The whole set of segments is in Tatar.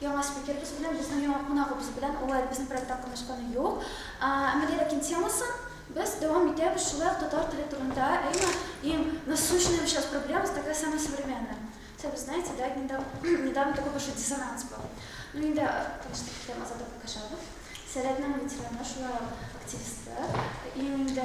Яңа спикерыбыз белән, безнең яңа кунагыбыз белән алай безнең проектта катнашканы юк. Әмма Леракин темасын без дәвам итәбез, шулай ук татар теле турында, әйме, иң насущная сейчас проблема, с такая самая современная. Хотя вы знаете, да, недав недавно такой большой диссонанс был. Ну инде там сколько там Азат Абдукашабов, Сәләтнең ветераны, шулай ук активисты, иң инде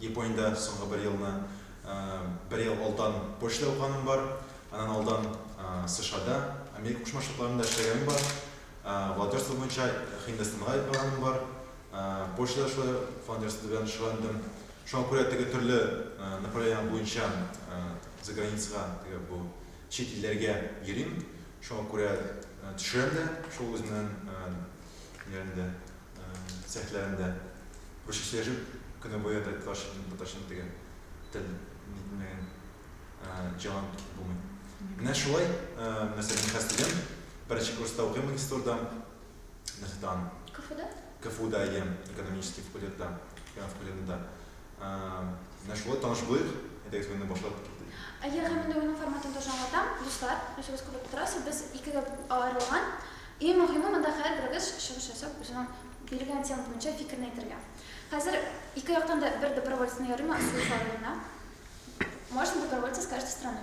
Япониядә соңгы бер елны, бер ел алдан почта укыганым бар, аннан алдан США-да, Америка Кушма Штатларында эшләгәнем бар, волонтерство буенча Һиндстанга барганым бар, почтада шулай волонтерство белән шөгыльләндем. Шуңа күрә теге төрле направление буенча за границага, теге бу чит илләргә йөрим. Шуңа күрә төшерәм дә, шул үземнең ниләрне дә. цехларында күрше сөйләшеп көне буе татарчадан татарчаны тегә тел нитмәгән җан кит булмый менә шулай нәрсә мин хәзер тегәм беренче курста укыйм магистрда нефтан кфуда кфуда ям экономический факультетта экономика факультетында Менә шулай таныш булыйк, әйдәгез монда башлап китик. Әйе, һәм инде уйның форматын тоже аңлатам. Дуслар, нәрсәгез күреп утырасыз, без икегә аерылган. Иң мөһиме, монда һәрберегез чыгыш ясап, үзенең бирелгән тема буенча фикерен әйтергә. Хәзер ике яктан да бер добровольцны ярыймы, Ансур Фаруллина? Можно добровольца с каждой стороны?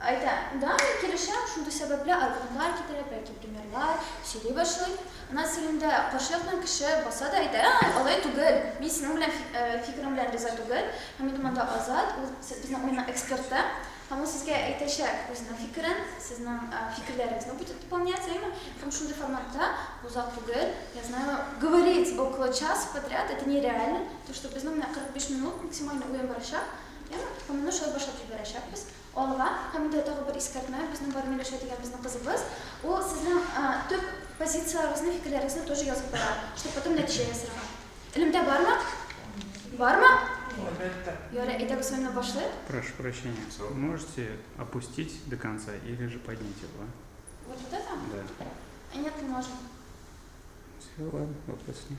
Әйтә. Да, мин килешәм, шундый сәбәпле аргументлар китерә, бәлки примерлар, сөйли башлый. Ана телендә каршылыкны кеше баса да әйтә, Ә-ә, алай түгел, мин синең белән фикерең белән риза түгел, һәм инде монда Азат, ул безнең уйның эксперты, һәм ул сезгә әйтәчәк үзенең фикерен, сезнең фикерләрегезне будет дополнять, әйеме? Һәм шундый форматта озак түгел, я знаю, говорить около часа подряд, это нереально, то, что безнең менә 45 минут максимальный уен барачак. Яме токымына шәл башлап җибәрәчәкбез. Алга! Һәм инде тагы бер искәртмә, безнең бар Миләүшә дигән безнең кызыбыз, ул сезнең төп позицияләрегезне, фикерләрегезне тоже язып бара, чтобы потом нәтиҗә ясарга. Элемтә бармы? Бармы? Әлбәттә. Ярый, әйдә без менә башлыйк. Прошу прощения, можете опустить до конца или же поднять его? Вот это? Да. Нет, не можем. Все, ладно, вопрос нет.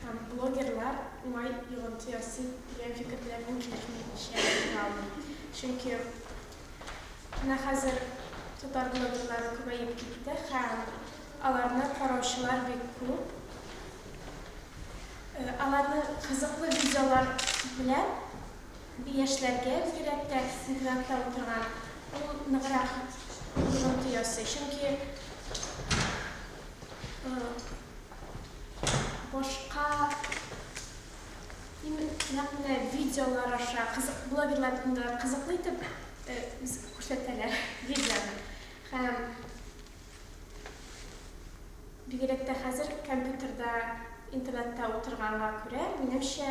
Һәм блогерлар уңай йогынты ясый дигән фикерләрнең килешми икенче ягын күрә алмыйм. Чөнки менә хәзер татар блогерлары күбәеп китте һәм аларны караучылар бик күп. Аларны кызыклы видеолар белән яшьләргә бигрәк тә интернетта утырган ул ныграк йогынты ясый. Чөнки Башка нәкъ видеолар аша блогерлар турында кызыклы итеп күрсәтәләр видеоны. Һәм бигрәк тә хәзер компьютерда, интернетта утырганга күрә, минемчә,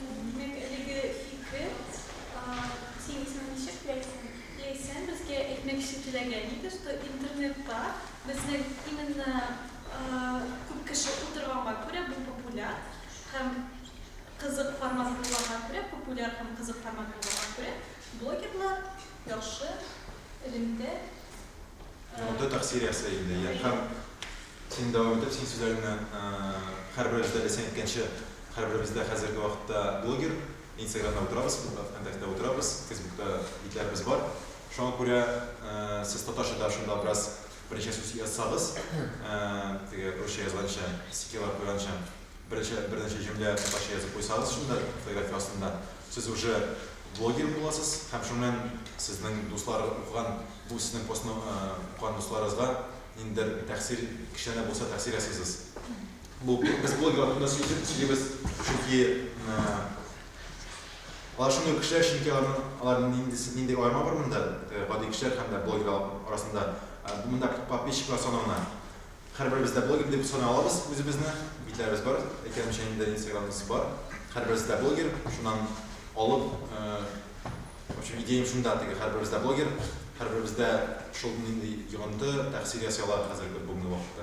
Минем элеге фикре, син исемен ничек теләйсең? Ләйсән безгә әйтмәкче теләгән иде, что интернетта безнең именно күп кеше утырганга күрә бу популяр һәм кызык формат булганга күрә, популяр һәм кызык формат булганга күрә блогерлар яхшы элемтә, Мондый тәэсир ясый инде, һәм. Син дәвам итеп син сүзләреңне Һәрберебездә дә син әйткәнчә Һәрберебездә хәзерге вакытта блогер Инстаграмда утырабыз Вконтактеда утырабыз Фейсбукта битләребез бар Шуңа күрә сез татарчада шунда бераз берничә сүз язсагыз теге русча язганча стикерлар куйганча берничә берничә җөмлә татарча язып куйсагыз шунда фотография астында сез уже блогер буласыз һәм шуңнан сезнең дуслар укыган бу сезнең постны укыган дусларыгызга ниндидер тәэсир, кечкенә дә булса тәэсир ясыйсыз. Бу психология вакытында сөйлибез, чөнки алар шундый кешеләр, чөнки алар нинди аерма бар монда, гади кешеләр һәм дә блогерлар арасында. Монда подписчиклар саналына. Һәрберебез дә блогер дип саный алабыз үзебезне, битләребез бар, әйткәнемчә инде инстаграмыбыз бар. Һәрберебез дә блогер, шуннан алып В общем, идеям шунда, теге һәрберебез дә блогер, һәрберебездә шул нинди йогынты, тәэсир ясый ала хәзерге бүгенге вакытта.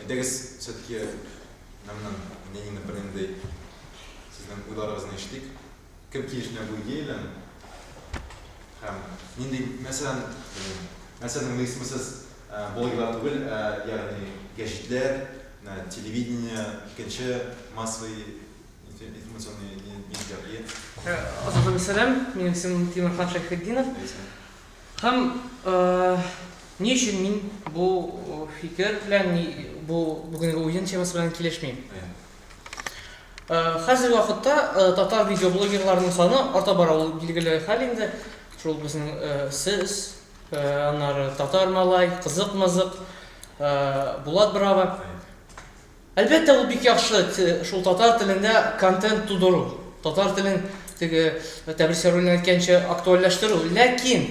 Әйдәгез, все-таки Мәмнүн Ленина бернинди сезнең уйларыгызны ишетик. Кем килешенә бу идея белән? Һәм нинди мәсьәлән, мәсьәләнең исеме сез блогерлар түгел, ә ягъни гәҗитләр, телевидение, икенче массовый Азатым сәлам, минем исемем Тимерхан Шәйхетдинов. Һәм ни өчен мин бу фикер белән, бу бүгенге уен темасы белән килешмим? Хәзерге вакытта татар видеоблогерларының саны арта бара, ул билгеле хәл инде. Шул безнең сез, аннары татар малай, кызык-мызык, Булат Брава. Әлбәттә, ул бик яхшы шул татар телендә контент тудыру, татар телен теге Тәбрис Яруллин әйткәнчә актуальләштерү. Ләкин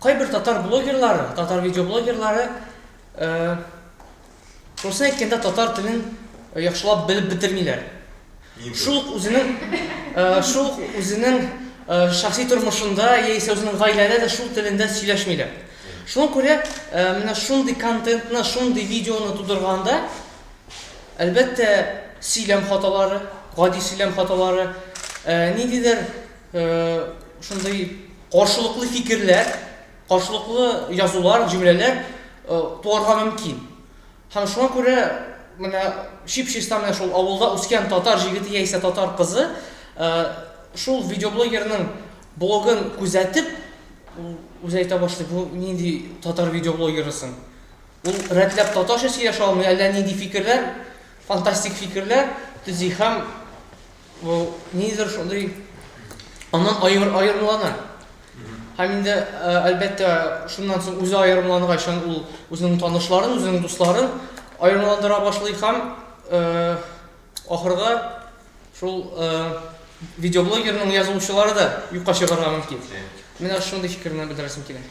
кайбер татар блогерлары, татар видеоблогерлары шусын әйткәндә татар телен яхшылап белеп бетермиләр. Шул ук үзенең шул ук үзенең шәхси тормышында яисә үзенең гаиләдә дә шул телендә сөйләшмиләр. Шуңа күрә менә шундый контентны, шундый видеоны тудырганда, әлбәттә, сөйләм хаталары, гади сөйләм хаталары, ниндидер шундый каршылыклы фикерләр, каршылыклы язулар, җөмләләр туарга мөмкин. Һәм шуңа күрә менә чип-чиста менә шул авылда үскән татар җигете яисә татар кызы шул видеоблогерның блогын күзәтеп, ул үзе әйтә башлый, бу нинди татар видеоблогеры соң? Ул рәтләп татарча сөйләшә алмый, әллә нинди фикерләр, фантастик фикерләр төзи һәм Бу нидер шундый аннан аер, аерымлана. Һәм инде, э, әлбәттә, шуннан соң үзе аерымлангач, ул үзенең танышларын, үзенең дусларын аерымландыра башлый һәм э, ахырда шул э, видеоблогерның язылучылары да юкка чыгарга мөмкин. Менә шундый фикерне белдерәсем килә.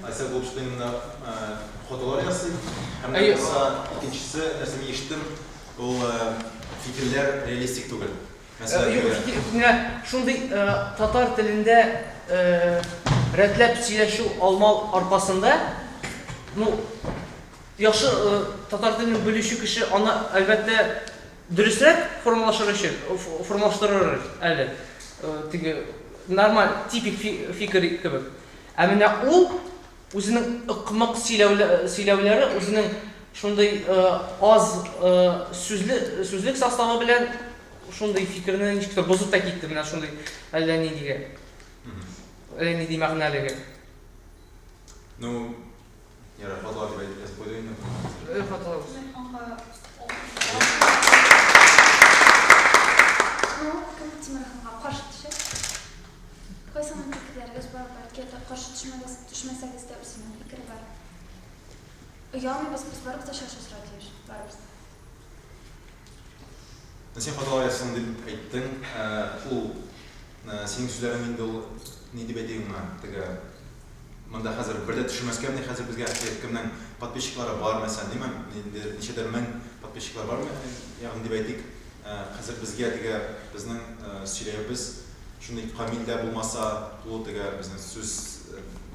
Ася Гупштейнда фотолар ясый. Һәм икенчесе, нәрсә ишеттем, Ул фикерләр реалистик түгел. Мәсәлән, Юк, әгәр- фикер, менә шундый э, татар телендә э, рәтләп сөйләшү алмау аркасында, ну, яхшы э, татар телен белүче кеше аны, әлбәттә, дөресрәк формалашыр өчен, ф- формалаштырыр әле, э, теге нормаль, типик фи- фикер кебек. Ә менә ул Үзенең ыкмык сөйләүләре, үзенең шундый аз сүзлек составы белән шундый фикерне ничек тә бозып та китте, менә шундый әллә ниндиге, әллә нинди мәгънәлеге. Ну, ярый, хаталар дип әйтеп язып куйдык инде. Бөтен хаталар үз. Тимерханга каршы төшә. Кайсының фикерләрегез бар, бәлки ята каршы төшмәгез, төшмәсәгез дә үземнең фикер бар. Оялмыйбыз, без барыбыз да чәч асырау тиеш, барыбыз да. Син хата аясың дип әйттең, ул синең сүзләрең инде ул ни дип әйтик моңа, теге монда хәзер бер дә төшермәскә мени хәзер безгә әхият кемнең подписчиклары бар мәсәлән, димә, ниндидер ничәдер мең подписчиклары бар, ягъни дип әйтик. Хәзер безгә тегә безнең сөйләюбез шундый камил дә булмаса, тулы тегә безнең сүз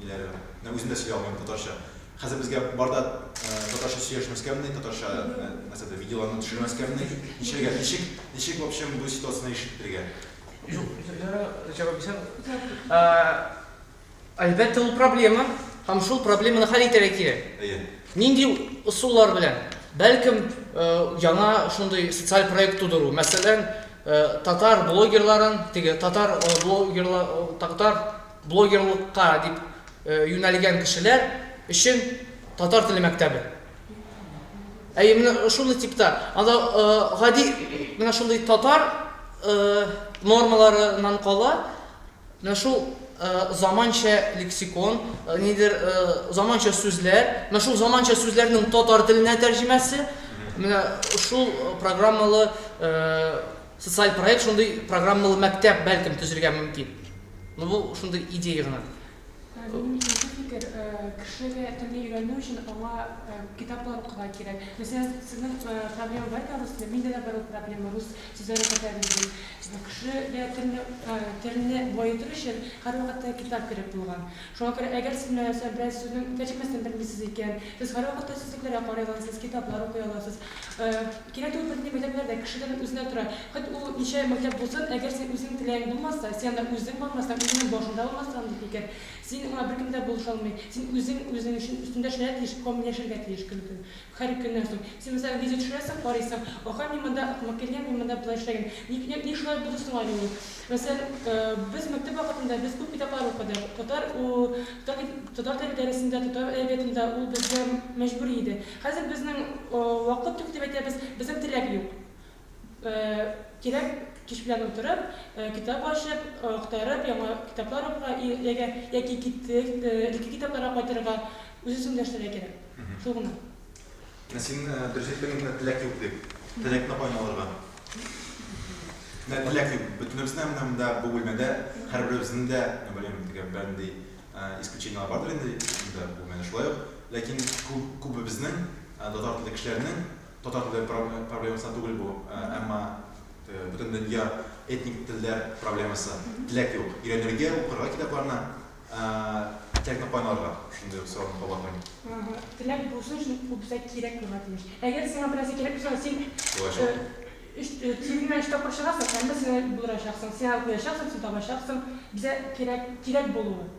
ниләре. Менә үзем дә сөйли алмыйм татарча. Хәзер безгә бар да татарча сөйләшмәскә мени, татарча нәрсә дә видеоларны төшермәскә мени. Ничәгә, ничек, ничек в общем бу ситуацияне ишеттерергә? Юк, син җавап бирсәң. Әлбәттә, ул проблема һәм шул проблеманы хәл итәргә кирәк. Әйе. Нинди ысуллар белән? Бәлкем, яңа шундый социаль проект тудыру, мәсәлән, татар блогерларын, теге татар блогерлар, татар блогерлыкка дип юнәлгән кешеләр өчен татар теле мәктәбе. Әйе, менә шундый типта, анда гади менә шундый татар нормаларыннан кала, Менә шул заманча лексикон, нидер заманча сүзләр, менә шул заманча сүзләрнең татар теленә тәрҗемәсе, менә шул программалы социаль проект, шундый программалы мәктәп бәлкем төзергә мөмкин. Ну бу шундый идея гына. Кешегә телне өйрәнү өчен аңа китаплар укырга кирәк. Мәсәлән, сезнең проблема бәлки рус теле, миндә дә бар ул проблема, рус Сүз арасы Фәйрүзин, Безнең кеше дә телне телне баетыр өчен һәрвакытта китап кирәк булган. Шуңа күрә әгәр сез менә сәр берәр сүзнең тәрҗемәсен белмисез икән, сез һәрвакытта сүзлекләргә карый аласыз, китаплар укый аласыз. Кирәк түгел бер нинди мәктәпләр дә, кешедән үзенә тора. Хоть ул ничә мәктәп булсын, әгәр син үзең теләгең булмаса, син анда үзең бармасаң, үзеңнең башыңда булмасаң андый фикер, син аңа беркем дә булыша алмый. Син үзең үзең өчен өстендә эшләргә тиеш, камилләшергә тиеш көн-көн. Хәр көннән соң. Син мәсәлән видео төшерәсең, карыйсың, аха, мин монда акмак килгән, мин монда болай эшләгән. Ник, ник, ник шулай булды соң әле ул? Мәсәлән, без мәктәп вакытында без күп китаплар укыдык. Татар, у, татар, татар теле дәресендә, татар әдәбиятында ул безгә мәҗбүри иде. Хәзер безнең, о, вакыт юк дип әйтәбез, безнең теләк юк. Кирәк кич белән утырып, китап ачып, актарып, яңа китаплар укырга яки яки китеп, элекке китапларга кайтырга, үз-үзеңне дәресләргә кирәк. Шул гына. Ә син дөрес әйттең инде, теләк юк дип. Теләкне каян алырга? Менә теләк юк. Бөтенебезнең менә монда бу бүлмәдә һәрберебезнең дә, мин белмим, тегә бернинди исключениеләр бардыр инде, монда бу менә шулай ук. Ләкин күбебезнең, татар телле кешеләрнең Татар теле проблемасына түгел бу, әмма бөтендөнья этник телләр проблемасы. Теләк юк. Өйрәнергә, укырга китапларны, теләкне каян алырга? Шундый ук сорауны кабатлыйм. Теләк булсын, чөнки ул безгә кирәк булырга тиеш. Әгәр сиңа берәрсе кирәк булса, син тиңеңә өч тапкыр чыгасың, әмма сиңа булдырачаксың, сиңа куячаксың, син табачаксың. Безгә кирәк, кирәк булу.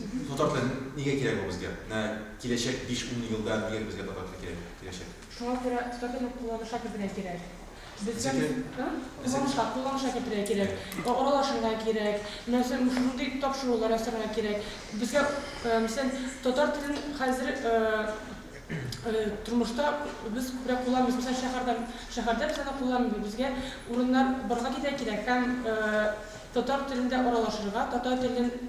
Татар теле нигә кирәк ул безгә? Менә киләчәк биш-ун елда нигә безгә татар теле кирәк, киләчәк? Шуңа күрә татар телен кулланышка кертергә кирәк. Безгә Безгә? а? Безгә Кулланышка, кулланышка кертергә кирәк. О Аралашырга кирәк. Менә син шушындый тапшырулар ясарга кирәк. Безгә э мәсәлән татар телен хәзер э э тормышта без күбрәк кулланмыйбыз. Мәсәлән шәһәрдә, шәһәрдә без аны кулланмыйбыз. Безгә урыннар барырга китә кирәк һәм э татар телендә аралашырга, татар телен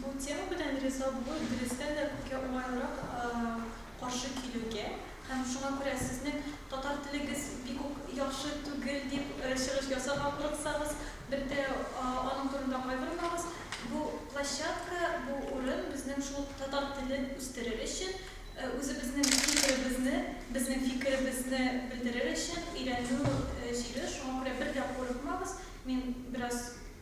Бу тема белән риза булу дөрестән дә күпкә уңайлырак каршы килүгә һәм шуңа күрә сезнең татар телегез бик үк яхшы түгел дип чыгыш ясарга курыксагыз, бер дә аның турында кайгырмагыз. Бу площадка, бу урын безнең шул татар телен үстерер өчен, үзебезнең фикеребезне, безнең фикеребезне белдерер өчен өйрәнү җире, шуңа күрә бер дә курыкмагыз, мин бераз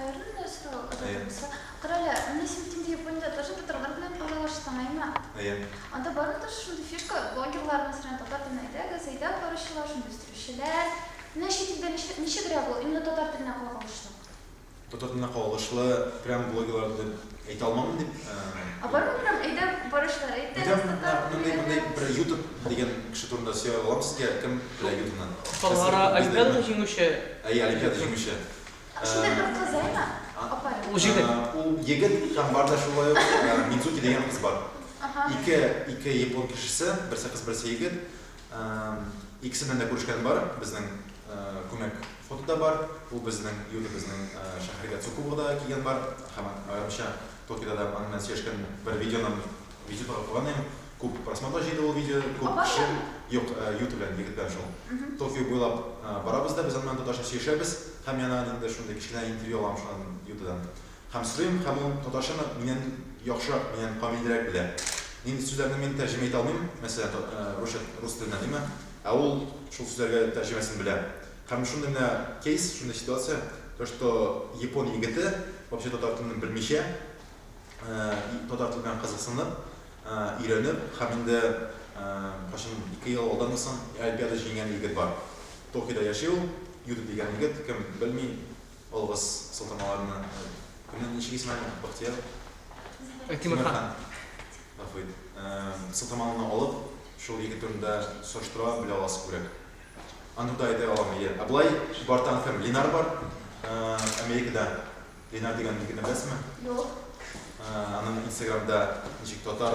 Аерым да сорау озатылса. Карале, менә син инде Япониядә тоже татарлар белән аралаштың, әйме? Әйе. Анда бармы тоже шундый фишка, блогерлар, мәсәлән, татар телен әйдәгез, әйдәп баручылар, шундый үстерүчеләр? Менә чит илдә нишләп, ничегрәк ул, именно татар теленә кагылышлы? Татар теленә кагылышлы прям блогерлар дип. Әйтә алмамын дип. Ә бар микән әйдә барышлар әйтә. Менә бер ютуб дигән кеше турында сөйә алам сезгә кем белә ютубны. Калгара Олимпиада җиңүче. Әйе, Олимпиада җиңүче. Шундый бер кыз әйме? Апа. Ул җегет. Ул егет һәм бар да шулай ук Мидзуки дигән кыз бар. Ике япон кешесе, берсе кыз, берсе егет. Икесе белән дә күрешкән бар, безнең күмәк фото да бар, ул безнең йортыбызның шәһәргә Цукубага да килгән бар һәм аерымча Токиода да аның белән сөйләшкән бер видеоны видеода куйган идем. Күп просмотрлар җыйды ул видео, күп кеше. Юк, йорты белән, егет белән шул. Токио буйлап барабыз да без аның белән татарча сөйләшәбез һәм яңа инде шундый кечкенә интервью алам шуннан йортыдан. Һәм сорыйм, һәм ул татарчаны миннән яхшырак, миннән камилрәк белә. Нинди сүзләрне мин тәрҗемә итә алмыйм, мәсәлән, русча, рус теленә, диме, ә ул шул сүзләргә тәрҗемәсен белә. Һәм шундый менә кейс, шундый ситуация, то что япон егете, вообще татар телен белмичә, татар теле белән кызыксынып, өйрәнеп, һәм инде кайчан, ике ел алдамы соң, олимпиада җиңгән егет бар. Токиода яши ул, Юта дигән егет, кем белми, Олыгыз солтанмаларны. Кемнең ничек исеме әле? Бахтияр? Тимерхан. Гафу ит. Солтанмалны алып, шул егет турында сораштыра белә аласыз күбрәк. Аны да әйтә алам, әйе. Ә болай Чебартан кем? Линар бар. Америкада Линар дигән егетне беләсезме? Юк. Аның инстаграмда ничек татар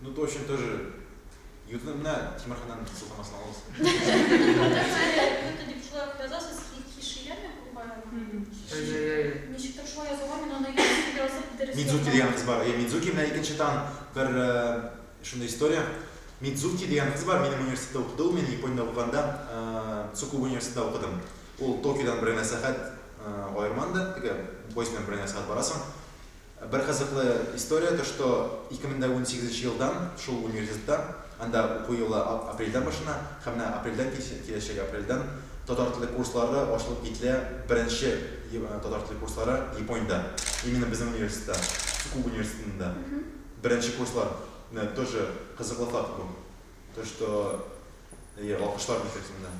Ну точно тоже. Ютны менә тимерханнан сылтамасын алыгыз. Ютны дип шулай ук язасыз, хиширеме бу байрамның? Ничектер шулай язылган, мин аны ютны язып дөрес. Мидзуки дигән кыз бар. Әйе, Мидзуки менә икенче тан бер шундый история. Мидзуки дигән кыз бар, минем университетта укыды ул, мин Япониядә укыганда Цукубу университетта укыдым. Ул Токиодан бер генә сәгать аерман да, теге поезд белән бер генә сәгать барасың. Бер кызыклы история, то что 2018 нче елдан шул университетта, анда уку елы апрельдән башлана, һәм менә апрельдән, киләчәк апрельдән татар теле курслары ачылып кителә, беренче татар теле курслары Япониядә, именно безнең университетта, Цукуба университетында беренче курслар, менә тоже кызыклы факт бу. То, что... Әйе, алкышлар бетерсеннәр.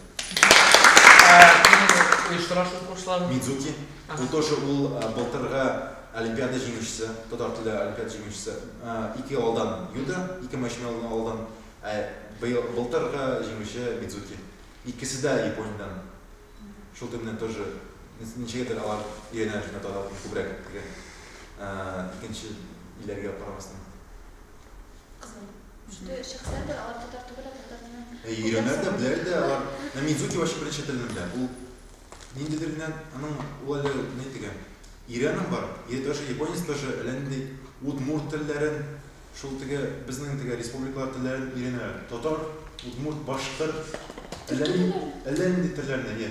Оештырасыз курсларны? Мидзуки. Ул тоже ул былтыргы Олимпиада җиңүчесе, татар теле Олимпиада җиңүчесе. Ике алдан Юда, ике мәчмә алдан. Былтыргы җиңүче Мидзуки. Икесе дә Япониядән. Шул тел белән тоже ничәгәдер алар өйрәнә шунда татар телен күбрәк. Икенче илләргә карамастан. Өйрәнә дә, белә дә алар. Ә мин зуки вачы беренче телне белә. Ул ниндидер генә аның ул әле ни дигән. Ирәнең бар. Или тоже японец тоже әллә нинди удмур телләрен шул теге безнең теге республикалар телләрен өйрәнәләр. Татар, удмур, башкыр. Әллә нинди телләрне, иә.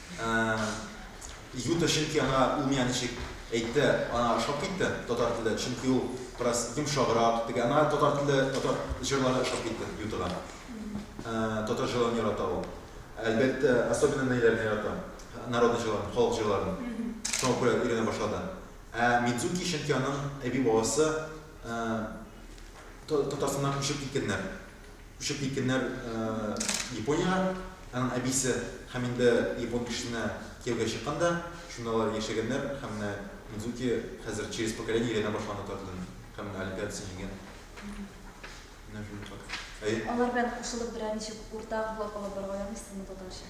Ә-ә-ә. Юта, чөнки ана ул миңа ничек әйтте, ана ошап китте, татар теле, чөнки ул бераз йомшаграк, теге ана татар теле, татар җырлары ошап китте Ютага. Ә-ә, татар җырларын ярата ул. Әлбәттә, особенно ниләрне ярата? Народный җырларын, халык җырларын. Шуңа күрә өйрәнә башлады. Ә Мидзуки, чөнки аның әби-бабасы, ә-ә, Та-Татарстаннан күчеп киткәннәр. Күчеп киткәннәр Япониягә, аның әбисе һәм инде япон кешесенә кияүгә чыккан да, шунда алар яшәгәннәр һәм менә Мидзуки хәзер через поколение әйләнә башлаган татар телен һәм менә олимпиадасын җиңгән. Менә шундый факт. Әйе. Алар белән кушылып берәр ничек уртак булып алып барырга ярамый сез моны татарча.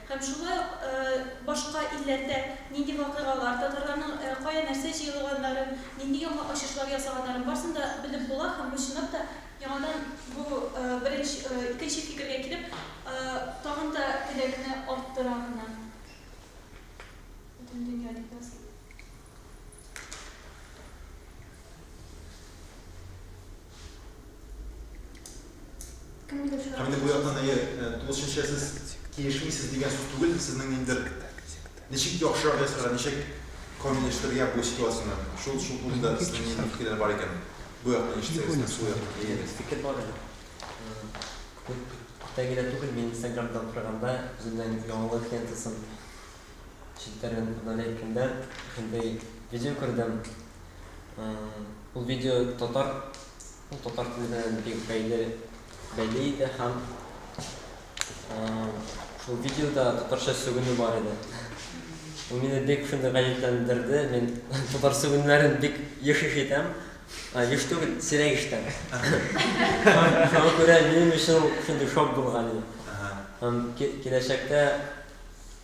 Һәм шулай ук башка илләрдә нинди вакыйгалар, татарларның кая нәрсә җыелганнарын, нинди яңа ачышлар ясаганнарын, барсын да белеп була һәм бу чынлап та яңадан бу беренче, икенче фикергә килеп, тагын да теләкне арттыра гына. Бөтен дөнья дип языйм. Һәм бу яктан әйе, тулысынча сез килешмисез дигән сүз түгел, сезнең ниндидер ничек яхшырак ясарга, ничек камилләштерергә бу ситуацияне, шул шул турында сезнең нинди фикерләр бар икән, бу якны ишетсәгез һәм сул якны әйегез. Фикер бар әле. Күптән генә түгел, мин инстаграмда утырганда, үземнең яңалык лентасын челтәрен удаляйкәндә, шундый видео күрдем, Ул видео татар, ул татар телендә бик бәйле, бәйле иде һәм шул видеода татарча сүгенү бар иде. Ул мине бик шундый гаҗәпләндерде, мин татар сүгенүләрен бик еш ишетәм, еш түгел, сирәк ишетәм. Шуңа күрә минем өчен ул шундый шок булган иде. Һәм киләчәктә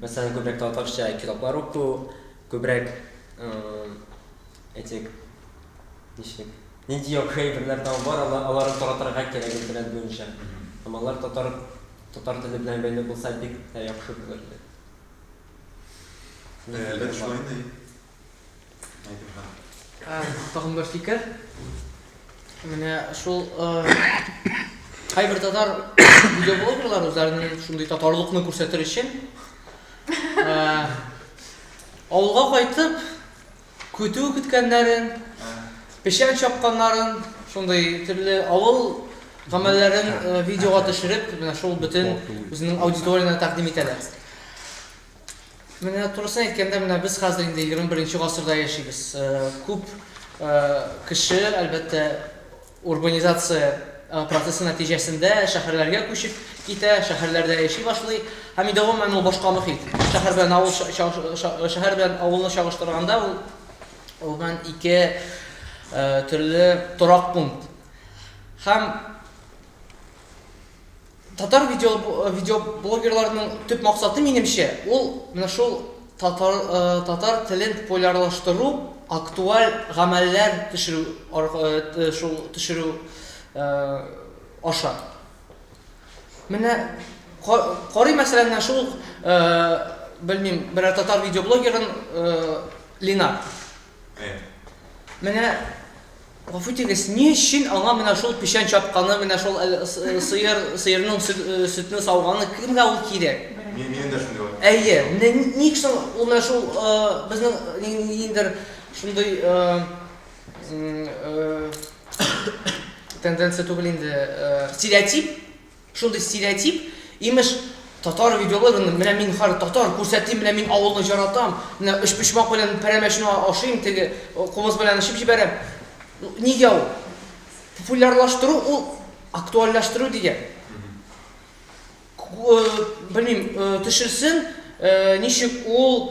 Мәсәлән, күбрәк татарча китаплар уку, күбрәк этик ничек нинди яхшы әйберләр там бар, аларны таратырга кирәк интернет буенча. Һәм алар татар татар теле белән бәйле булса бик тә яхшы булыр иде. Ләкин шулай инде. Тагын бер фикер. Менә шул кайбер татар видеоблогерлар үзләренең шундый татарлыкны күрсәтер өчен авылга кайтып көтү көткәннәрен, печән чапканнарын, шундый төрле авыл гамәлләрен э, видеога төшереп, менә шул бөтен үзенең аудиториясенә тәкъдим итәләр. Менә турысын әйткәндә, менә без хәзер инде егерме беренче гасырда яшибез. Күп кеше, әлбәттә, урбанизация процессы нәтиҗәсендә шәһәрләргә күчеп китә, шәһәрләрдә яши башлый. Һәм инде гомумән ул башка мохит. Шәһәр белән авыл шәһәр белән авылны чагыштырганда ул гомумән ике төрле торак пункт. Һәм Татар видео, э, видеоблогерларының төп максаты, минемчә, ул менә шул татар, э, татар телен популярлаштыру, актуаль гамәлләр төшерү, э, шул төшерү аша. Менә карый мәсәлән, менә шул, белмим, берәр татар видеоблогерын Линар. Менә Гафу итегез, ни өчен аңа менә шул печән чапканы, менә шул сыер, сыерның сөтне сауганы, кемгә ул кирәк? Мин, минем дә шундый вакыт. Әйе, менә ник соң ул менә шул безнең ниндидер шундый тенденция түгел инде, стереотип, Шундый стереотип, имеш, татар видеологын, менә мин хар татар, күрсәтим, менә мин авылны җаратам, менә өчпочмак белән пәрәмәчне ашыйм, теге кубыз белән эчеп җибәрәм. Нигә ул? Популярлаштыру ул актуальләштерү дигән. Белмим, төшенсен, ничек ул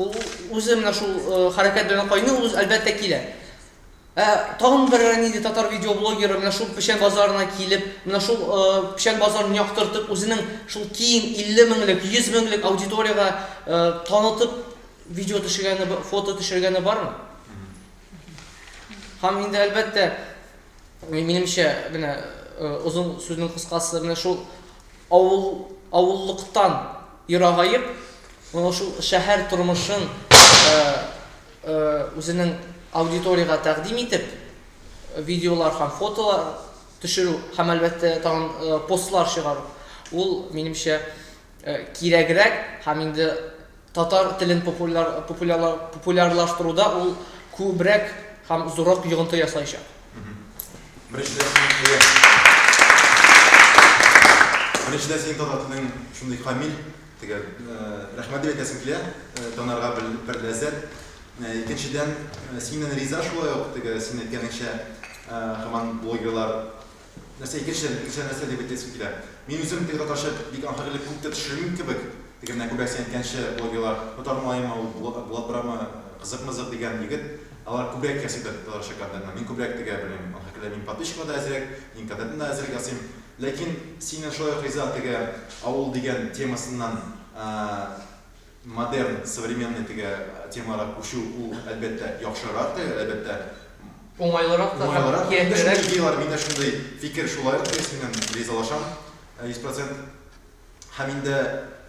Ул үзе менә шул хәрәкәт белән кайный, ул әлбәттә килә. Ә тагын бер нинди татар видеоблогеры менә шул Печән базарына килеп, менә шул Печән базарын яктыртып, үзенең шул киң 50 меңлек, 100 меңлек аудиториягә танытып видео төшергәне, фото төшергәне бармы? Һәм инде әлбәттә, минемчә, менә озын сүзнең кыскасы, менә шул Авыл, авыллыктан ерагаеп, менә шул шәһәр тормышын үзенең аудиториягә тәкъдим итеп, видеолар һәм фотолар төшерү һәм, әлбәттә, тагын постлар чыгару, ул, минемчә, кирәгрәк һәм инде Татар телен популярлаштыруда ул күбрәк һәм зуррак йогынты ясаячак. Беренчедән, синең татар телең шундый камил, төгәл. Рәхмәт дип әйтәсем килә, танарга бер ләззәт. Икенчедән, синнән риза шулай ук, теге син әйткәнеңчә, һаман блогерлар Нәрсә, икенче тел, икенче нәрсә дип әйтәсе килә. Мин үзем тел татарча бик аңгыр элек күп тә төшермим кебек, теге менә күбрәксен әйткәнче блогерлар, татар малаемы ул, Булат Булат Брамы, Кызык-мызык дигән егет, алар күбрәк ясый тат татарча контентны, мин күбрәк тегә белмим, аңгыр көлә, мин подписчикка да әзрәк, мин контентны да әзрәк ясыйм, ләкин синнән шулай ук риза теге авыл дигән темасыннан, ә-ә. Модерн, современный теге темага күчү ул, әлбәттә, яхшырак та, әлбәттә, Уңайлырак та һәм уңайлырак. Миндә шундый киятирәк. идеялар, миндә шундый фикер. Шулай ук мин синнән ризалашам, йөз процент. Һәм инде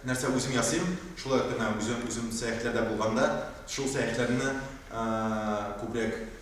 нәрсә үзем ясыйм, шулай ук менә үзем үзем сәяхәтләрдә булганда, шул сәяхәтләрне күбрәк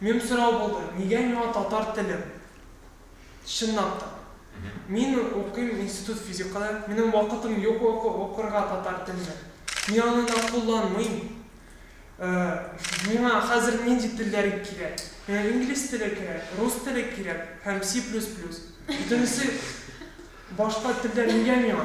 Мөһим сорау булды, нигә миңа татар теле? Чынлап та. Мин укыйм институт физиканы, минем вакытым юк укырга татар телне. Мин аны да кулланмыйм. Миңа хәзер нинди телләр кирәк? Миңа инглиз теле кирәк, рус теле кирәк һәм C++. Бөтенесе башка телләр нигә миңа?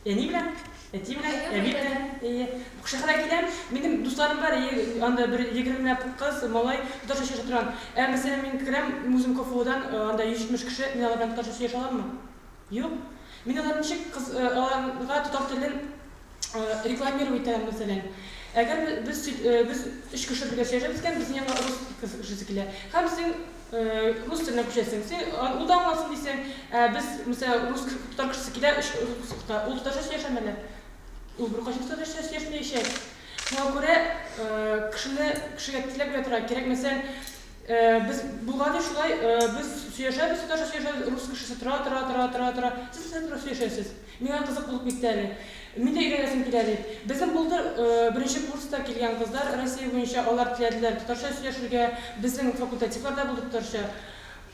Әни белән, әти белән, әби белән. Әйе. Шәһәргә киләм. Минем дусларым бар, әйе, анда бер егермеләп кыз, малай, татарча сөйләшә торган. Ә мәсәлән, мин керәм, үзем КФУдан, анда йөз җитмеш кеше, мин алар белән татарча сөйләшә аламмы? Юк. Мин алар ничек кыз, аларга татар телен рекламировать итәм, мәсәлән. Әгәр без, без өч кеше бергә сөйләшәбез икән, безнең янга рус кешесе килә. Һәм син Рус телендә күчәсең. Син ул да аңласын дисең. Ә без, мәсәлән, рус татар кешесе килә, өч рус укыта. Ул татарча сөйләшәме әллә? Ул беркайчан татарча сөйләшмәячәк. Шуңа күрә кешене кешегә тизләп бирә торган кирәк. Мәсәлән, без булган ди шулай, без сөйләшәбез, татарча сөйләшәбез, рус кешесе тора, тора, тора, тора, тора. Сез нәрсә турында сөйләшәсез? Миңа кызык булып китте әле. Мин дә өйрәнәсем килә, ди. Безнең булды беренче курста килгән кызлар, Россия буенча, алар теләделәр татарча сөйләшергә, безнең факультативларда булды татарча.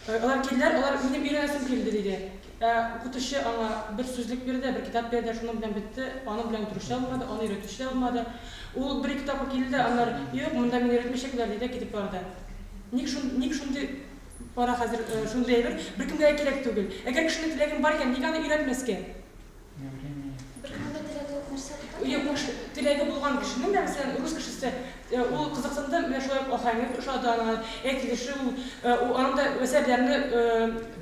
Алар килделәр, алар, минем өйрәнәсем килде, диде. Ә укытучы аңа бер сүзлек бирде, бер китап бирде, шуның белән бетте, аның белән утыручы да булмады, аны өйрәтүче дә булмады. Ул бер-ике тапкыр килде дә, аннары, юк, монда мине өйрәтмәячәкләр, диде дә китеп барды. Ник шундый Кара хәзер шундый әйбер, беркемгә дә кирәк түгел. Әгәр кешенең теләгең бар икән, нигә аны өйрәтмәскә? Беркемнең дә теләге юк нәрсә бу? Юк, бу кеше, теләге булган кешенең дә, мәсәлән, рус кешесе, ул кызыксынды, менә шулай ук ахәңе ошады аңа, әйтелеше, ул, аның да әсәрләрне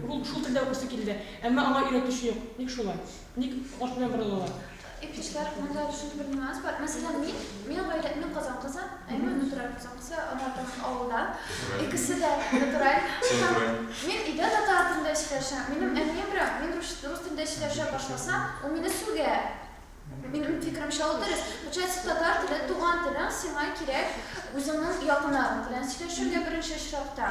ул шул телдә укыйсы килде. Әмма аңа өйрәтүче юк. Ник шулай? Ник каршы белән борылалар? Эпичлар монда шундый бер нюанс бар. Мәсәлән, мин, мин гаиләмнең Казан кызы, әйме натураль Казан кызы, ана там авылда. Икесе дә натураль. Мин өйдә татар телендә сөйләшәм. Минем әнием белән мин рус телендә сөйләшә башласам, ул мине сүгә. Минем фикеремчә ул дөрес. Получается, татар теле, туган телең сиңа кирәк, үзеңнең якыннарың белән сөйләшергә беренче очракта.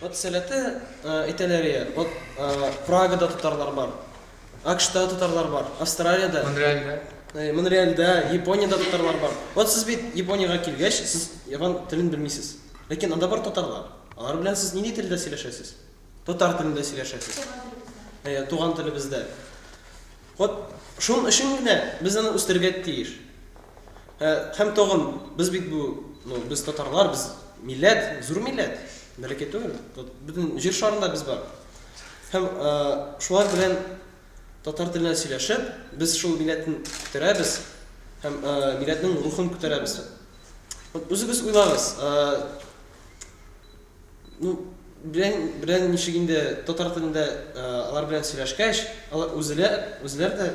Вот сәләте әйтәләр иде, вот Прагада татарлар бар, АКШта татарлар бар, Австралиядә, Монреальдә, Монреальдә, Япониядә татарлар бар. Вот сез бит Япониягә килгәч, сез япон телен белмисез. Ләкин анда бар татарлар. Алар белән сез нинди телдә сөйләшәсез? Татар телендә сөйләшәсез. Туган телебездә. Туган телебездә. Вот шуның өчен генә без аны үстерергә тиеш. Ә һәм тагын без бит бу, ну, без татарлар, без милләт, зур милләт, бәләкәй түгел. Вот бөтен җир шарында без бар. Һәм шулар белән татар телендә сөйләшеп, без шул милләтне күтәрәбез һәм милләтнең рухын күтәрәбез. Вот үзегез уйлагыз, Ну, белән, белән ничек инде татар телендә алар белән сөйләшкәч, алар үзеләр, үзеләр дә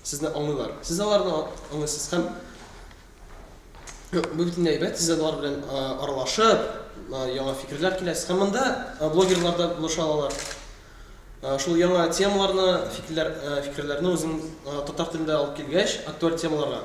сезне аңлыйлар. Сез аларны аңлыйсыз һәм бу бит инде әйбәт, сез алар белән аралашып, яңа фикерләр килә. Һәм монда блогерлар да булыша алалар. Шул яңа темаларны, фикерләр, фикерләрне үзең татар телендә алып килгәч, актуаль темаларга,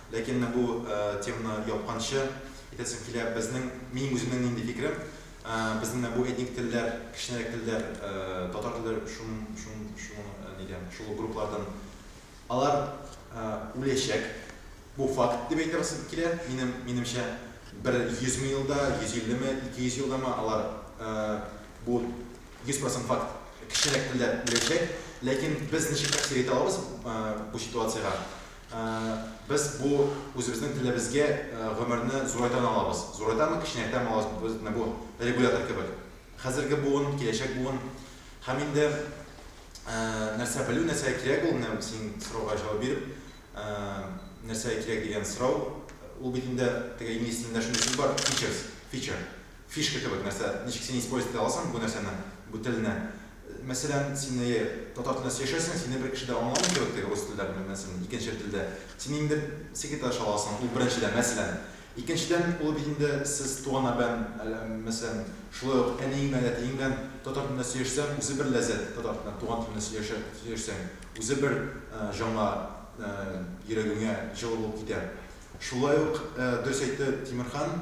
Ләкин менә бу теманы япканчы әйтәсем килә, безнең, минем үземнең нинди фикерем, безнең менә бу этник телләр, кечкенәрәк телләр, татар теле шун, шун, шуның нидә, шул ук групплардан, алар үләчәк, бу факт дип әйтәсем килә, минем, минемчә, бер 100 мең елда, 150 ме, 200 елда ма алар, бу 100 процент факт, кечкенәрәк телләр үләчәк, ләкин без ничек тәэсир итә алабыз бу ситуациягә? Без бу үзебезнең телебезгә гомерне зурайтан алабыз. Зурайтамы, кеченәйтәме алабыз, без менә бу регулятор кебек. Хәзерге буын, киләчәк буын. Һәм инде нәрсә белү, нәрсә кирәк ул, менә син сорауга җавап биреп, нәрсә кирәк дигән сорау, ул бит инде теге инглиз телендә шундый сүз бар, features, feature, фишка кебек нәрсә, ничек син использовать итә аласың бу нәрсәне, бу телне, Мәсәлән, син, әйе, татар телендә сөйләшәсең, сине бер кеше дә аңламый кебек теге рус телдә, белмим, мәсәлән, икенче телдә. Син инде секретарь чаласың, ул беренчедән, мәсәлән. Икенчедән, ул бит инде сез туганнар белән, әле, мәсәлән, шулай ук әниең белән, әтиең белән татар телендә сөйләшсәң, үзе бер ләззәт, татар телендә, туган телендә сөйләшә, сөйләшсәң, үзе бер җанга, йөрәгеңә җылы булып китә. Шулай ук, дөрес әйтте Тимерхан.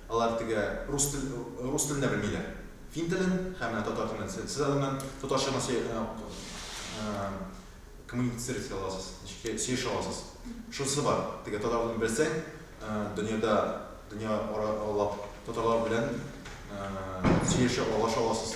Алар теге рус тел рус телен дә белмиләр. Фин телен һәм менә татар телен. Се сез әле моннан татарча гына сөй ә ә коммуницировать итә аласыз, ничек тә сөйләшә аласыз. Шунысы бар, теге татар телен белсәң, ә дөньяда дөнья ара аллап татарлар белән ә сөйләшә, аралаша аласыз.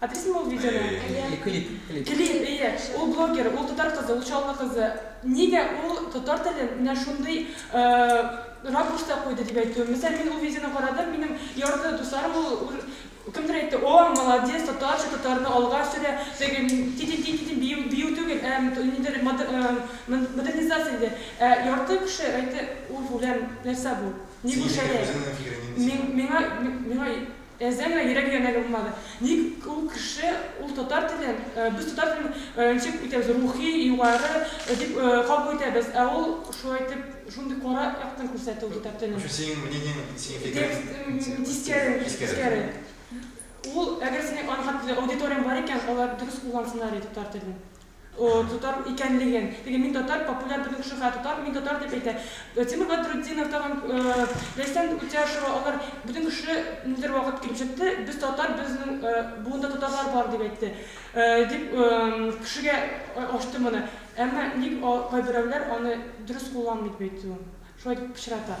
Адресын ул видеоның? Әйе. Э, клип, клип. Клип, әйе. Ул блогер, ул татар кызы, ул Чаллы кызы. Нигә ул татар телен менә шундый, э, ракурста куйды дип әйтүем. Мәсәлән, мин ул видеоны карадым, минем ярты дусларым ул ур Кемдер әйтте, о, молодец, татарча, татарны алга сөрә, теге ти-ти-ти-ти-ти бию, бию түгел, ә т нидер мод э, мон модернизация диде. Ә ярты кеше әйтте, уф, үләм, нәрсә бу? Ник бу Синеке шәрә? үзеңнең фикерең инде Мин синең. миңа, миңа Әзәмә йөрәк янә дә булмады. Ник ул кеше ул татар телен, без татар телен ничек үтәбез, рухи, югары дип кабул итәбез, ә ул шулай итеп шундый кара яктан күрсәтте ул татар телен. Вообще синең мнениең, синең фикерең тискәре. Тискәре. Ул, әгәр синең аны хәтле аудиторияң бар икән, алар дөрес куллансыннар иде татар телен. О, татар икәнлеген. Теге мин татар популяр бөтен кеше хәя татар, мин татар дип әйтә. Тимур Бәдретдинов тагын Ләйсән Үтяшева алар бөтен кеше ниндидер вакыт килеп чыкты, без татар, безнең буында татарлар бар дип әйтте. Дип кешегә ачты моны. Әмма ник кайберәүләр аны дөрес кулланмый дип әйтүем. Шулай дип пычрата.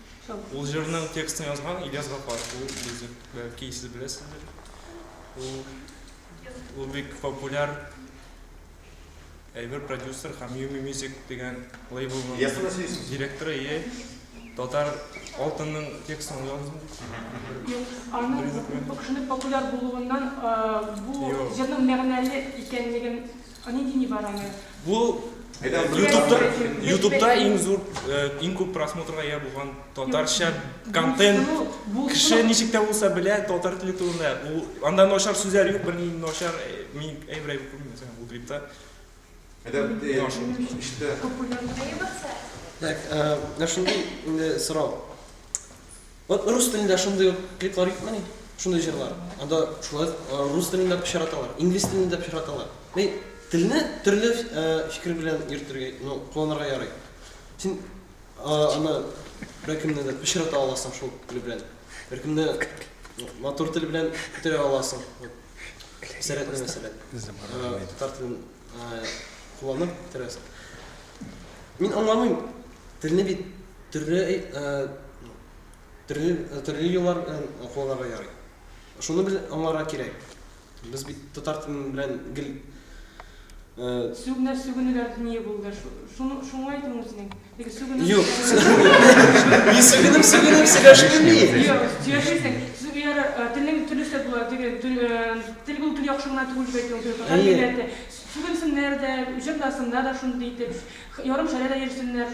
Ул җырның текстын язган Ильяс Гафаров. Ул музык, бәлки сез беләсездер. Ул ул бик популяр әйбер продюсер һәм Yumi Music дигән лейблның директоры е татар алтынның текстын язган. Юк, аның шундый популяр булуыннан бу җырның мәгънәле икәнлеген Они дини бараны. Бу ютубта ютубта иң зур иң күп просмотрга ия булган татарча контент кеше ничек тә булса белә татар теле турында бу анда начар сүзләр юк берни начар мин әйбер әйбер күрмим сән бу клипта Так, ә шундый инде сорау. Вот рус телендә шундый ук клиплар юкмыни? Шундый җырлар. Анда шулай рус телендә пычраталар, инглиз телендә пычраталар. Мин телне төрле фикер белән йөртергә, ну, кулланырга ярый. Син аны беркемне дә пычрата аласың шул тел белән. Беркемне матур тел белән күтәрә аласың. Сәләтле мәсәлән. Татар телен Кулланып бетерәсең. Мин аңламыйм. Телне бит төрле төрле төрле юллар белән кулланырга ярый. Шуны бел аңларга кирәк. Без бит татар телен белән гел сүгенә сүгенүләр дөнья булды. Шуны шуңа әйтүең үзенең. Юк. Мин сүгенеп, сүгенеп сөйләшмим мин. Юк, сөйләшмисең. Сез яра телең төрлесе була, теге тел бу тел яхшы гына түгел бит ул татар милләте. Сүгенсеннәр дә, үҗәт басында да шундый итеп, ярым шәрә дә йөрсеннәр.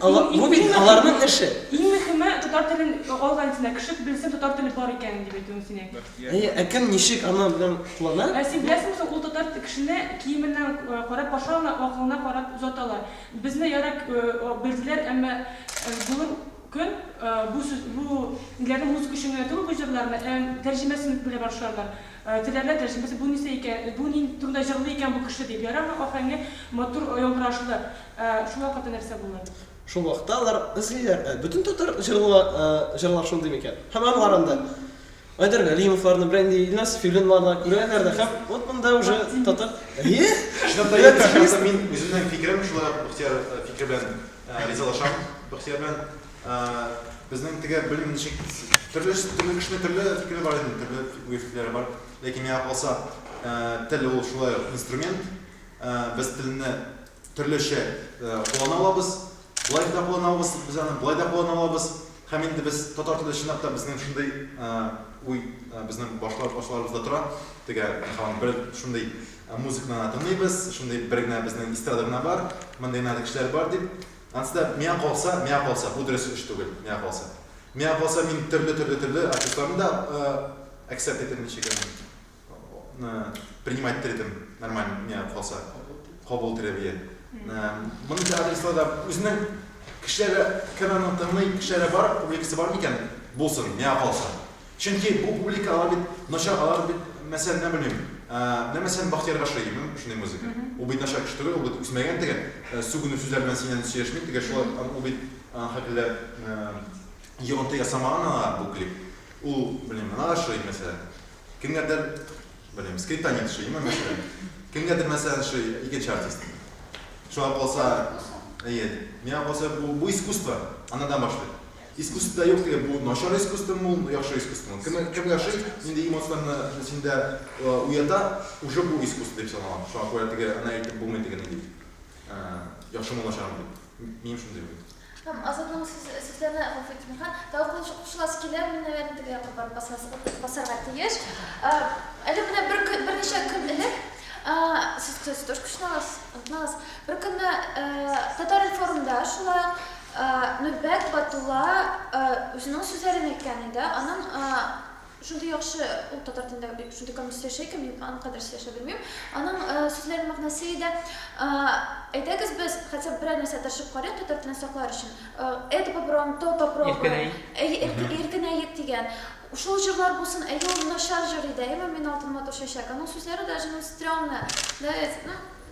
Бу бит аларның эше. Иң мөхиме татар телен алга илтсеннәр. Кеше белсен татар теле бар икәнен дип әйтүем сине. Әйе, ә кем ничек аны белән куллана? Ә син беләсеңме соң ул татар кешене киеменнән карап каршы алалар, акылына карап озаталар. Безне ярый белделәр, әмма бүген көн бу сүз бу ниләрне музыка өчен генә түгел бу җырларны, ә тәрҗемәсен белә башларлар. Теләрләр тәрҗемәсен, бу нәрсә икән, бу ни турында җырлый икән бу кеше дип. Ярармы ахәңе матур яңгырашлы, ә шул вакытта нәрсә булыр? Шул вакытта алар эзлиләр, ә бөтен татар җырлар җырлар шундый микән? Һәм анларында. Айдар Галимовларны, белән инде Илназ Филиннарны күрәләр дә һәм вот монда уже татар. Әйе? Чынлап та әйе, шәхсән мин үземнең фикерем шулай Бахтияр фикере белән ризалашам. Бахтияр белән безнең теге белмим ничек төрле төрле кешенең төрле фикере бар инде, төрле уй фикерләре бар. Ләкин миңа калса, тел ул шулай ук инструмент. Без телне Төрлечә куллана алабыз, болай да куллана алабыз, без аны болай да куллана алабыз. Һәм инде без татар теле чынлап та безнең шундый уй безнең башларыбызда тора. Теге һаман бер шундый музыканы гына тыңлыйбыз, шундый бер генә безнең эстрада гына бар, мондый гына кешеләр бар дип. Анысы да миңа калса, миңа калса, бу дөрес эш түгел, миңа калса. Миңа калса, мин төрле-төрле-төрле артистларны да акцепт итәм, ничек аны. принимать итер идем нормально не калса кабул итер идем монысы адресларда үзенең кешеләре кем аны тыңлый кешеләре бар публикасы бар микән булсын миңа калса чөнки бу публика алар бит начар алар бит мәсәлән менә белмим менә мәсәлән бахтияр гашиев шундый музыка ул бит начар кеше түгел ул бит үсмәгән теге сүгенү сүзләр белән синнән сөйләшми теге шулай ул бит хакилә йогынты ясамаган аңа бу клип ул белмим миңа ошый мәсәлән Кемгәдер, белмим, скриптонит ошыймы, мәсәлән. Кемгәдер, мәсәлән, ошый икенче артист. Шуңа калса, әйе, миңа калса бу, бу искусство, анадан башлый. Искусствода юк теге, бу начар искусствомы ул, яхшы искусствомы. Кем, кемгә ошый, нинди эмоцияне синдә э, уята, уже бу искусство дип санала. Шуңа күрә теге, ана әйтеп булмый теге нинди, э, яхшымы начармы дип. Минем шундый уй. Һәм Азатның сүзләренә гафу итегез, Миха, тагы кушыласы килермен, наверное, теге якка барып басарга тиеш. Әле менә берничә көн элек, сез тоже кушналас, онытмагыз, бер көнне Татар-информда шулай ук Нурбәк Батулла үзенең сүзләрен әйткән иде, аның Шундый яхшы ул татар телендә бит шундый камил сөйләшә икән, мин аның кадәр сөйләшә белмим. Аның сүзләренең мәгънәсе иде, әйдәгез без хотя бы берәр нәрсә тырышып карыйк татар телен саклар өчен. Это попробуем, то попробуем. Иркенәй. Әйе, иркенәек дигән. Шул җырлар булсын, әйе ул начар җыр иде, әйеме, мин алтын матур чәчәк. Аның сүзләре даже ну стрёмная, да ведь, ну.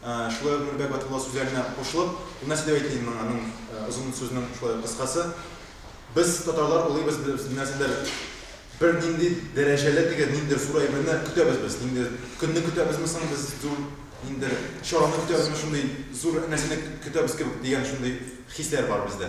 Шулай ук Нурбәк Батулла сүзләренә кушылып, Гөлназ дип әйтим мин моңа, мин озын сүзнең шулай ук кыскасы. Без татарлар улыйбыз, без нәрсәдер бер нинди дәрәҗәле теге ниндидер зур әйберне көтәбез без. Нинди көнне көтәбезме соң без зур ниндидер чараны көтәбезме, шундый зур нәрсәне көтәбез кебек дигән шундый хисләр бар бездә.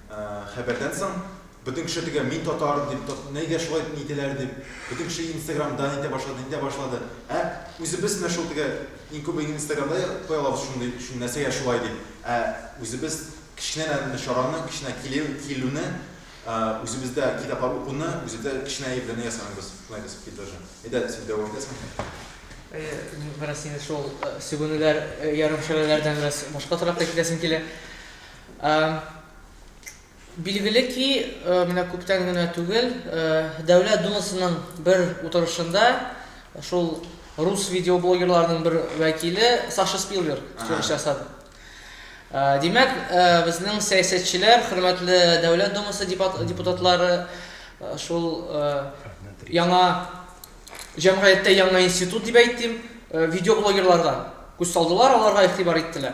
Хәбәрдән соң бөтен кеше төгә мин татар дип тот нигә шулай итәләр дип бөтен кеше инстаграм дан итә башлады итә башлады ә үзебез менә шул төгә иң күбе инстаграмда куя алабыз шундый шун нәрсәгә шулай дип ә үзебез кечкенәдән менә чараны кечкенә килү килүне үзебездә китаплар укуны үзебездә кечкенә әйберне ясамыйбыз шулай без бит тоже әйдә син дәвам итәсеңме? Әйе мин бераз инде шул сүгенүләр ярымшәрәләрдән бераз башка торакка китәсем килә. Билгеле ки, менә күптән генә түгел Дәүләт Думасының бер утырышында шул рус видеоблогерларының бер вәкиле Саша Спилберг чыгыш ясады. Димәк, безнең сәясәтчеләр, хөрмәтле Дәүләт Думасы депутатлары шул яңа җәмгыятьтә яңа институт дип әйтим, видеоблогерларга күз салдылар, аларга игътибар иттеләр.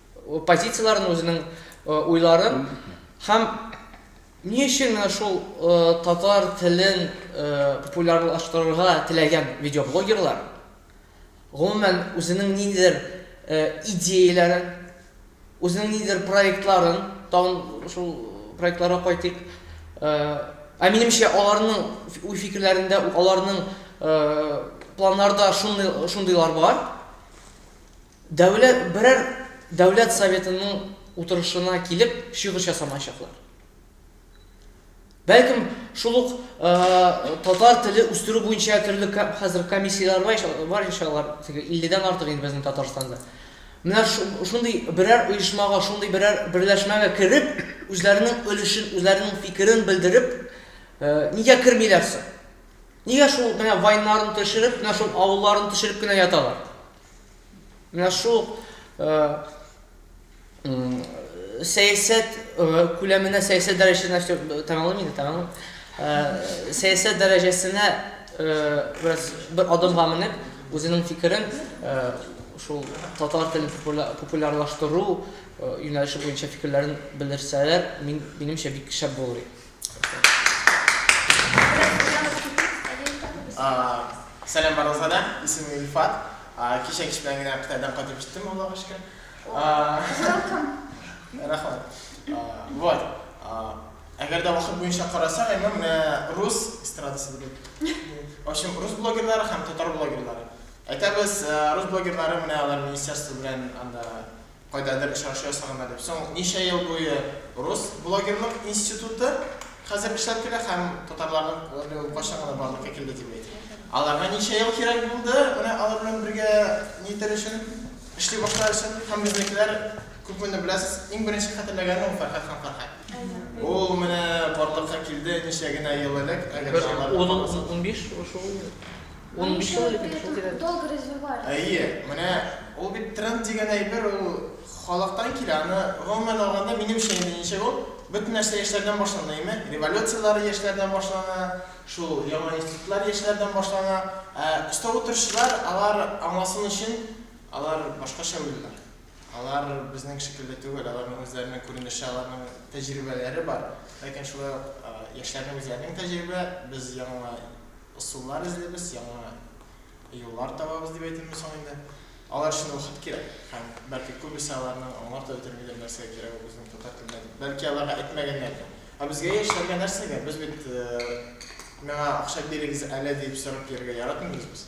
позицияләрен, үзенең уйларын һәм ни өчен менә шул татар телен популярлаштырырга теләгән видеоблогерлар, гомумән, үзенең ниндидер идеяләрен, үзенең ниндидер проектларын, тагын шул проектларга кайтыйк, ә минемчә, аларның уй-фикерләрендә, аларның планнарда шундыйлар бар. Дәүлә берәр Дәүләт Советының утырышына килеп чыгыш ясамаячаклар. Бәлкем, шул ук татар теле үстерү буенча төрле хәзер комиссияләр бар, бар ич алар, теге 50-дән артык инде безнең Татарстанда. Менә шундый берәр оешмага, шундый берәр берләшмәгә кереп, үзләренең өлешен, үзләренең фикерен белдереп, нигә кермиләр соң? Нигә шул менә вайннарын төшереп, менә шул авылларын төшереп кенә яталар? Менә шул сәясәт күләменә, сәясәт дәрәҗәсенә все тәмамлыйм инде, тәмамлыйм. Сәясәт дәрәҗәсенә бераз бер адымга менеп, үзенең фикерен шул татар телен популярлаштыру юнәлеше буенча фикерләрен белдерсәләр, минемчә бик шәп булыр иде. Сәлам барыгызга да, исемем Илфат. Кичә кич белән генә Кытайдан кайтып җиттем, Аллага шөкер. Рәхмәт. Вот. Әгәр дә вакыт буенча карасак, әмма менә рус эстрадасы дигән. В общем, рус блогерлары һәм татар блогерлары. Әйтәбез, рус блогерлары менә алар министерство белән анда Кайдадыр очрашу ясаганнар дип. Соң ничә ел буе рус блогерлык институты хәзер эшләп килә һәм татарларның әле ул кайчан гына барлыкка килде дип әйт. Аларга ничә ел кирәк булды менә алар белән бергә нитәр өчен, эшли башлар өчен һәм безнекеләр күпмени беләсез, иң беренче хәтерләгәне ул Фәрхәт һәм Фәрхәт. Ул менә барлыкка килде ничә генә ел элек, әгәр дә алар Бер ун, унбиш шул. Ул ничек алып китте шул тирәдә? Долго развивали. Әйе, менә ул бит тренд дигән әйбер, ул халыктан килә. Аны гомумән алганда, минемчә инде ничек ул, бөтен нәрсә яшьләрдән башлана, әйеме? Революцияләр яшьләрдән башлана, шул яңа институтлар яшьләрдән башлана. Ә өстә утыручылар, алар аңласын өчен, алар башкача уйлыйлар. Алар безнең шикелле түгел, аларның үзләренең күренеше, аларның тәҗрибәләре бар. Ләкин шулай ук яшьләрнең үзләренең тәҗрибә, без яңа, Ысуллар эзлибез, яңа юллар табабыз дип әйтимме соң инде. Алар өчен вакыт кирәк һәм, бәлки, күбесе аларның аңлап та бетермидер, нәрсәгә кирәк ул безнең татар телендә дип. Бәлки, аларга әйтмәгәннәрдер. Ә безгә яшьләргә нәрсәгә? Без бит Миңа акча бирегез әле дип сорап йөрергә яратмыйбыз без.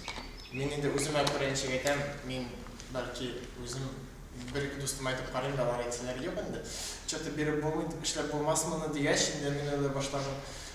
Мин инде үземә күрә ничек әйтәм, мин, бәлки, үзем бер-ике дустыма әйтеп карыйм да, алар әйтсәләр, Юк инде, чё-то биреп булмый дип, эшләп булмас моны, дигәч, инде мин уйлый башладым.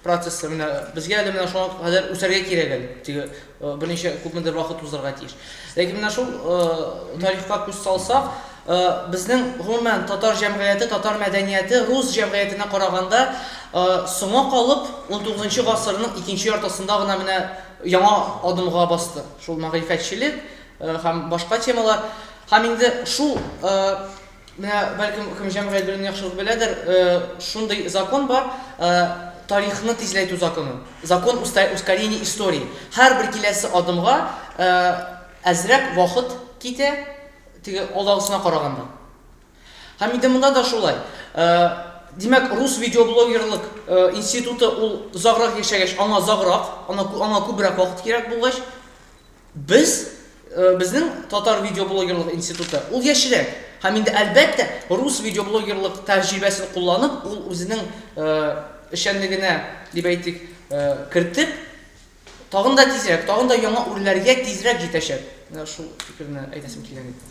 Процессы, менә безгә әле менә шуңа кадәр үсәргә кирәк әле, теге берничә күпмедер вакыт узарга тиеш. Ләкин менә шул тарихка күз салсак, безнең гомумән татар җәмгыяте, татар мәдәнияте рус җәмгыятенә караганда соңа калып, унтугызынчы гасырның икенче яртысында гына менә яңа адымга басты. Шул мәгърифәтчелек һәм башка темалар. Һәм инде шул Менә бәлкем кем җәмгыять белемне яхшырак беләдер, шундый закон бар, тарихны тизләйтү законы. Закон ускорения истории. Һәрбер киләсе адымга әзрәк вакыт китә, теге алдагысына караганда. Һәм инде монда да шулай. Димәк, рус видеоблогерлык институты ул озаграк яшәгәч, аңа озаграк, аңа күбрәк вакыт кирәк булгач, Без, э, безнең татар видеоблогерлык институты, ул яшерәк. Һәм инде әлбәттә, рус видеоблогерлык тәҗрибәсен кулланып, ул үзенең эшчәнлегенә, дип әйтик, кертеп, тагын да тизрәк, тагын да яңа үрләргә тизрәк җитәчәк. Менә шул фикерне әйтәсем килгән иде.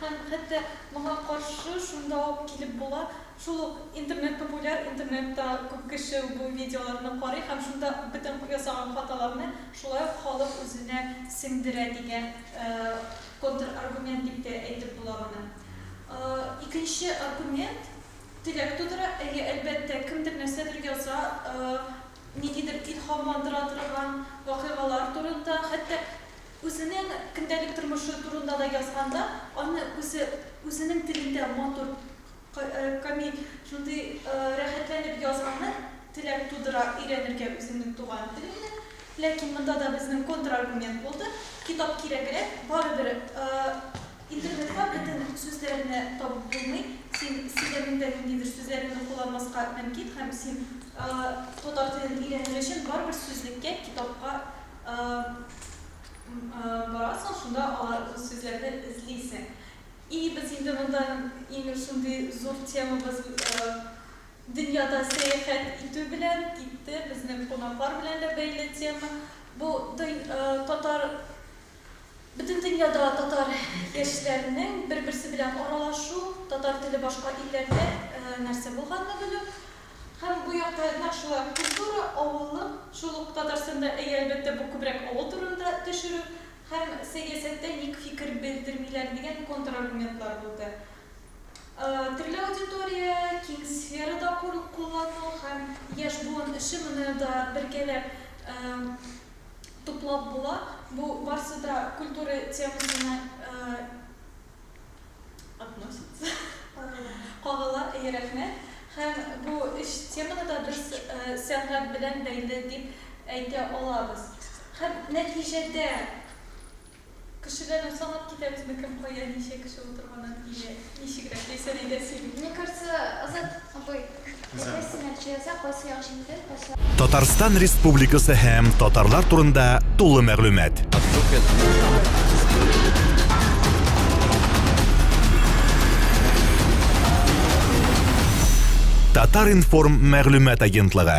Һәм хәтта моңа каршы шунда ук килеп була, шул ук интернет популяр, интернетта күп кеше бу видеоларны карый һәм шунда бөтен ясаган хаталарны шулай ук халык үзенә сеңдерә дигән контраргумент дип тә әйтеп була моны. Икенче аргумент теләк тудыра, әйе, әлбәттә, кемдер нәрсәдер яза, ниндидер илһамландыра торган вакыйгалар турында, хәтта Үзенең көндәлек тормышы турында да язганда, аны үзе үзенең телендә матур, камил, шундый рәхәтләнеп язганы теләк тудыра өйрәнергә үзеңнең туган телеңне. Ләкин монда да безнең контраргумент булды, китап кирәгрәк, барыбер интернетта бөтен сүзләрне табып булмый, син сөйләмеңдә ниндидер сүзләреңне кулланмаска мөмкин һәм син татар телен өйрәнер өчен барыбер сүзлеккә, китапка Барасың, шунда алар сүзләрне эзлисең. И без инде монда имеш шундый зур темабыз дөньяда сәяхәт итү белән китте, безнең кунаклар белән дә бәйле тема. Бу татар бөтен дөньяда татар яшьләренең бер-берсе белән аралашу, татар теле башка илләрдә нәрсә булганны белү. Һәм бу якта нәкъ шулай ук культура, авыллык, шул ук Татарстанда, әйе, әлбәттә, бу күбрәк авыл турында төшерү, һәм сәясәттә ник фикер белдермиләр дигән контраргументлар булды. Төрле аудитория, киң сферада куллану һәм яшь буын эше моны да бергәләп туплап була, бу барсы да культура темасына Относится. Кагыла. Кагыла, әйе, рәхмәт. Һәм бу өч теманы да без сәнгать белән бәйле дип әйтә алабыз. Һәм нәтиҗәдә кешеләрне санап китәбезме, кем кая ничә кеше утырганын или ничегрәк яисә нигә сөйли? Мне кажется, Азат абый. Татарстан Республикасы һәм татарлар турында тулы мәгълүмат. Татар-информ мәгълүмат агентлыгы.